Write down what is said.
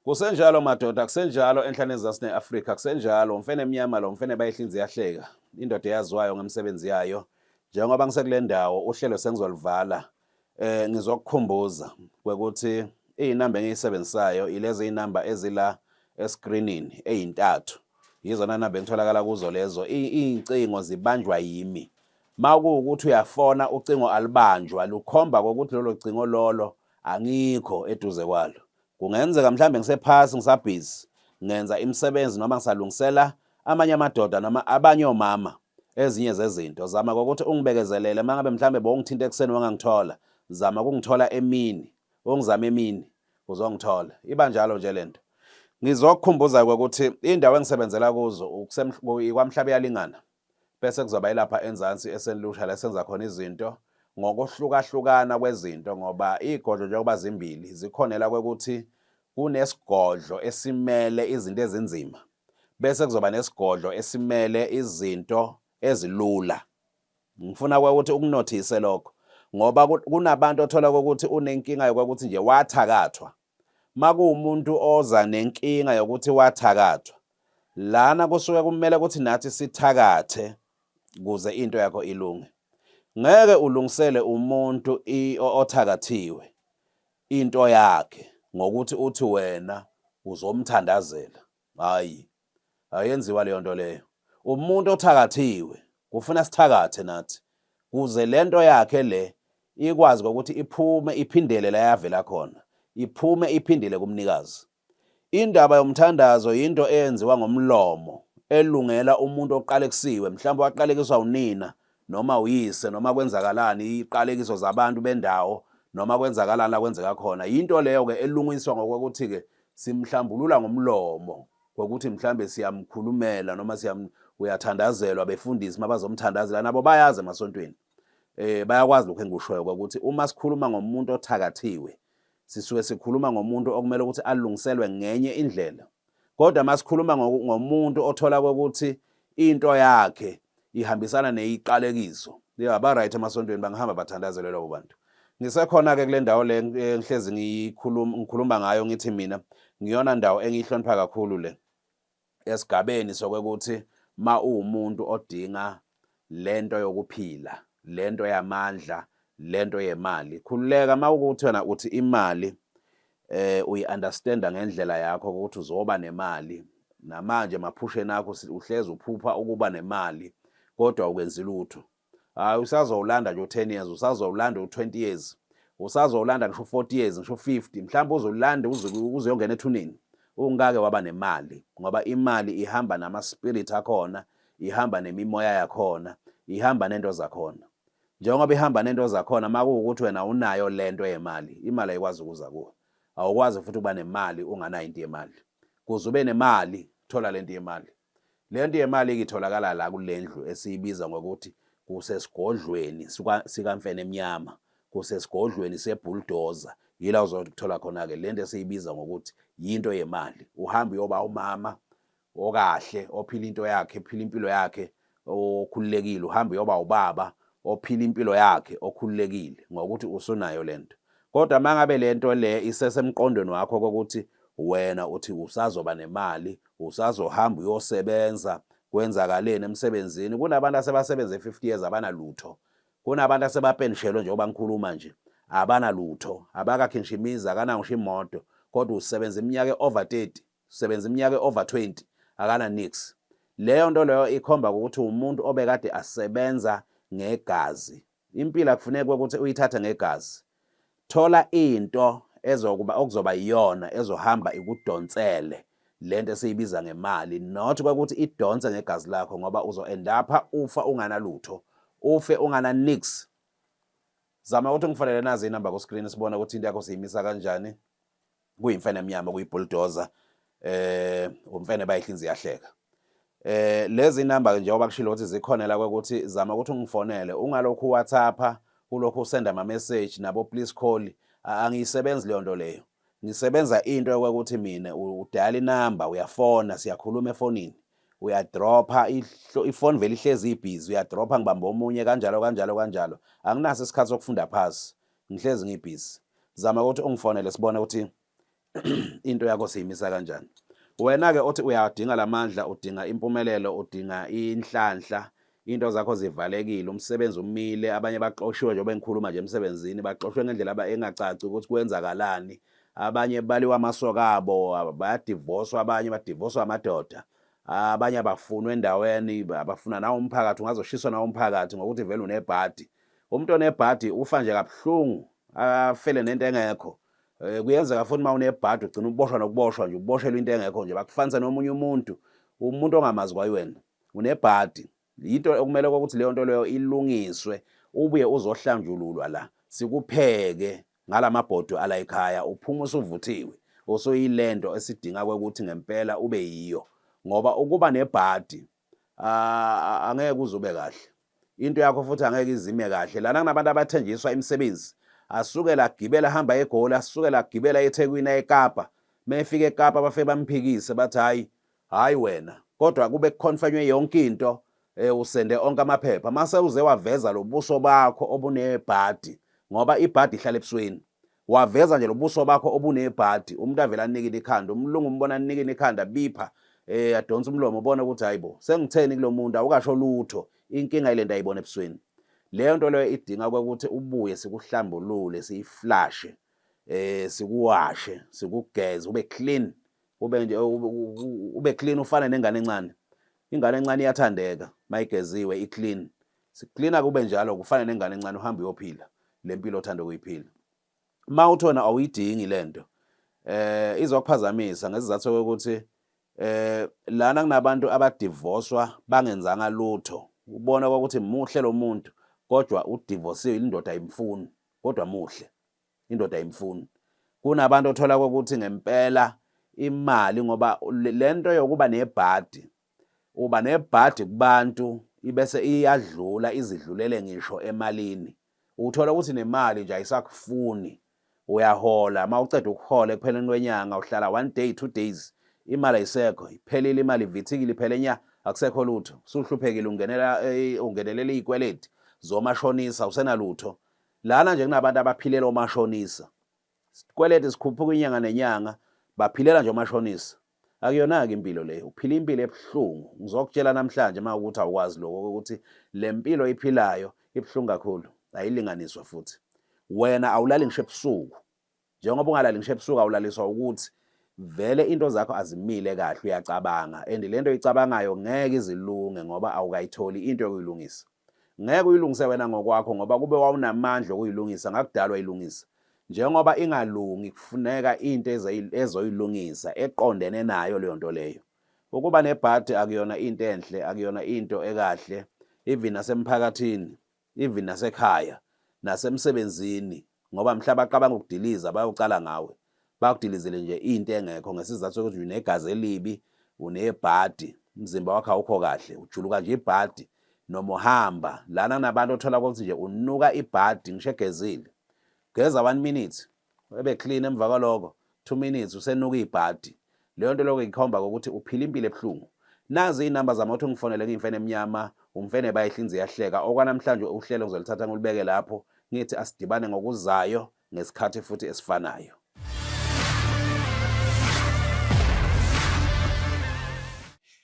Kusenjalo madoda, kusenjalo enhlane ezasi ne-Afrika, kusenjalo umfene emnyama lo mfene bayihlinzi yahleka. Indoda eyaziwayo ngemisebenzi yayo. Njengoba ngisekule ndawo uhlelo sengizolivala. Eh ngizokukhumbuza kwekuthi izinamba engiyisebenzisayo ilezi inamba ezila escreenini ezintathu. Yizona namba engitholakala kuzo lezo. Izincingo zibanjwa yimi. Makuwukuthi uyafona ucingo alibanjwa lukhomba ukuthi lolo cingo lolo Angikho eduze kwalo. Kungenzeka mhlambe ngisephasi ngisabhizi ngenza imisebenzi noma ngisalungisela amanye amadoda noma abanye omama ezinye zezinto. Zama kokuthi ungibekezelele mangabe mhlambe bowungithinta ekuseni wangangithola. Zama ukungithola emini. Ungizama emini uzongithola. Iba njalo nje lento. Ngizokukhumbuza ukuthi indawo engisebenzela kuzo ikwaMhlabeyalingana. Bese kuzoba ilapha enzansi eselusha la senza khona izinto ngokuhlukahlukana kwezinto ngoba iy'godlo njengoba zimbili zikhonela kwekuthi kunesigodlo esimele izinto ezinzima bese kuzoba nesigodlo esimele izinto ezilula ngifuna kwekuthi ukunothise lokho ngoba kunabantu othola kokuthi unenkinga yokuthi nje wathakathwa makuwumuntu oza nenkinga yokuthi wathakathwa lana kusuke kumele ukuthi nathi sithakathe kuze into yakho ilunge ngeke ulungisele umuntu othakathiwe into yakhe ngokuthi uthi wena uzomthandazela hayi ayenziwa leyo nto leyo umuntu othakathiwe kufuna sithakathe nathi kuze lento yakhe le ikwazi ukuthi iphume iphindele la yavela khona iphume iphindele kumnikazi indaba yomthandazo yinto eyenziwa ngomlomo elungela umuntu oqalekisiwe mhlawumbe waqalekiswa unina noma uyise noma kwenzakalani iqalekiso zabantu bendawo noma kwenzakalani la kwenzeka khona yinto leyo ke elungiswa ngokuthi ke simhlambulula ngomlomo ngokuthi mhlambe siyamkhulumela noma siyam uyathandazelwa befundisi mabazomthandazela nabo bayazi emasontweni eh bayakwazi lokho engikushoyo ukuthi uma sikhuluma ngomuntu othakathiwe Sisuke sikhuluma ngomuntu okumele ukuthi alungiselwe ngenye indlela. Kodwa masikhuluma ngomuntu othola ukuthi into yakhe ihambisana neyiqalekiso. Yaba right emasontweni bangihamba bathandazelwe labo bantu. Ngisekhona ke kule ndawo le ngihlezi ngikhuluma ngayo ngithi mina ngiyona ndawo engiyihlonipha kakhulu le. esigabeni sokwekuthi ma uwumuntu odinga lento yokuphila lento yamandla lento yemali khululeka ma ukuthi wena uthi imali eh uyiunderstanda ngendlela yakho ukuthi uzoba nemali namanje maphusheni akho uhlezi uphupha ukuba nemali kodwa ukwenzi lutho hayi usazowulanda nje u-10 years usazowulanda u-20 years usazowulanda ngisho u-40 years ngisho u-50 mhlawumbe uzolanda uzuyongena ethuneni ungake waba nemali ngoba imali ihamba nama-spirit akhona ihamba nemimoya yakhona ihamba nento zakhona njengoba ihamba nento zakhona uma kuwukuthi wena unayo le nto yemali imali ayikwazi ukuza kuwe awukwazi futhi ukuba nemali unganayo into yemali kuze ube nemali thola le nto yemali Le nto yemali-ke itholakala la kule ndlu esiyibiza ngokuthi kusesigodlweni sikamfene emnyama kusesigodlweni sebhuldoza yila uzothola khona-ke le nto esiyibiza ngokuthi yinto yemali uhambe uyoba umama okahle ophila into yakhe ephila impilo yakhe okhululekile uhamba uyoba ubaba ophila impilo yakhe okhululekile ngokuthi usunayo lento kodwa mangabe lento le isesemqondweni wakho kokuthi wena uthi usazoba nemali usazohamba uyosebenza kwenzakaleni emsebenzini kunabantu asebasebenza e50 years abanalutho kunabantu asebapenshelo njengoba ngikhuluma nje abanalutho abakakhe ngisho imizi akanawo ngisho imoto kodwa usebenza iminyaka over 30 Usebenza iminyaka e-over 20 akana nix. Leyo nto leyo ikhomba ukuthi umuntu obekade asebenza ngegazi. Impilo akufuneki ukuthi uyithathe ngegazi. Thola into ezokuba okuzoba iyona ezohamba ikudonsele lento esiyibiza ngemali not kwakuthi idonse ngegazi lakho ngoba uzoendapha ufa unganalutho ufe ungana nix zama ukuthi ngifanele nazi inamba ku screen sibone ukuthi into yakho siyimisa kanjani kuyimfene emnyama kuyibulldozer eh umfene bayihlinzi yahleka eh lezi number ke njengoba kushilo ukuthi zikhona la ukuthi zama ukuthi ungifonele ungalokhu WhatsApp kulokhu usenda ama message nabo please call angiyisebenzi leyo nto leyo ngisebenza into yokuthi mina udala inamba uyafona siyakhuluma efonini uyadropha ifoni vele ihlezi ibhizi uyadropha ngibamba omunye kanjalo kanjalo kanjalo anginaso isikhathi sokufunda phasi Ngihlezi ngibhizi. Zama ukuthi ungifonele sibone ukuthi into yakho siyimisa kanjani. Wena-ke othi uyadinga la mandla, udinga impumelelo, udinga inhlanhla, into zakho zivalekile, umsebenzi umile, abanye baxoshiwe njengoba engikhuluma nje emsebenzini, baxoshwe ngendlela engacaci ukuthi kwenzakalani. Abanye baliwa amasoka abo, bayadivoswa abanye, badivoswa amadoda. Abanye abafunwa endaweni, abafuna nawo umphakathi, ungazoshiswa nawo umphakathi ngokuthi vele unebhadi. Umuntu onebhadi ufa nje kabuhlungu afele nento engekho Eh, kuyenzeka futhi uma unebhadi ugcina uboshwa nokuboshwa nje uboshelwa into engekho nje bakufanisa nomunye umuntu umuntu ongamazi kwayiwena unebhadi yinto okumele ukuthi leyo nto leyo ilungiswe ubuye uzohlanjululwa la sikupheke ngalamabhodo ala ekhaya uphuma usuvuthiwe usuyilento esidinga ukuthi ngempela ube yiyo ngoba ukuba nebhadi ah, angeke uzube kahle into yakho futhi angeke izime kahle lana kunabantu abathenjiswa imisebenzi asukela agibela hamba egoli asukela agibela ethekwini ekapa mefika ekapa bafike bamphikise bathi hhayi hhayi wena kodwa kube kukhonfanywe yonke into um usende onke amaphepha mase uze waveza lobuso bakho obunebhadi ngoba ibhadi ihlala ebusweni waveza nje lobuso bakho obunebhadi umuntu avela anikile ikhanda umlungu umbona anikile ikhanda bipha eh adonsa umlomo ubona ukuthi hayibo sengitheni kulomuntu awukasho lutho inkinga ilento ayibona ebusweni leyo nto leyo idinga ukuthi ubuye sikuhlambulule siyiflashe eh sikuwashe sikugeze ube clean ube nje ube clean ufana nengane encane ingane encane iyathandeka mayigeziwe i clean Siklina kube njalo kufane nengane encane uhamba uyophila lempilo othanda ukuyiphila. Uma uthona awuyidingi lento. Eh izokuphazamisa ngesizathu sokuthi eh lana kunabantu abadivoswa bangenzanga lutho. Ubona ukuthi muhle lo muntu kodwa udivosiwe indoda ayimfuni kodwa muhle. Indoda ayimfuni. Kunabantu othola ukuthi ngempela imali ngoba lento yokuba nebhadi uba nebhadi kubantu ibese iyadlula izidlulele ngisho emalini uthola ukuthi nemali nje ayisakufuni uyahola uma uceda ukuhola ekupheleni kwenyanga uhlala one day two days imali ayisekho iphelile imali ivithikile iphele nya akusekho lutho usuhluphekile ungenela eh, ungenelela izikweleti zomashonisa usenalutho lana nje kunabantu abaphilela omashonisa sikweleti sikhuphuka inyanga nenyanga baphilela nje omashonisa Akuyona-ke impilo le, uphila impilo ebuhlungu. Ngizokutshela namhlanje uma ukuthi awukwazi lokho ukuthi le mpilo iphilayo ibuhlungu kakhulu, ayilinganiswa futhi. Wena awulali ngisho ebusuku. Njengoba ungalali ngisho ebusuku awulaliswa ukuthi vele into zakho azimile kahle uyacabanga and le nto oyicabangayo ngeke izilunge ngoba awukayitholi into yokuyilungisa. Ngeke uyilungise wena ngokwakho ngoba kube wawunamandla okuyilungisa ngakudalwa ilungisa. Njengoba ingalungi kufuneka into ezoyilungisa eqondene nayo leyo nto leyo. Ukuba nebhadi akuyona into enhle, akuyona into ekahle even nasemphakathini, even nasekhaya, nasemsebenzini, ngoba mhla baqabanga ukudiliza bayocala ngawe bakudilizele nje into engekho ngesizathu sokuthi unegazi elibi unebhadi umzimba wakho awukho kahle ujuluka nje ibhadi noma uhamba lana kunabantu othola ukuthi nje unuka ibhadi ngisho egezile geza one minute ebe clean emva kwaloko Two minutes usenuka ibhadi. Leyo nto lokho ikhomba ukuthi uphila impilo ebuhlungu. Nazi iy'namba zami othi ungifonele ngiyimfene emnyama, umfene bayihlinzi iyahleka. Okwanamhlanje uhlelo ngizolithatha ngilibeke lapho, ngithi asidibane ngokuzayo ngesikhathi futhi esifanayo.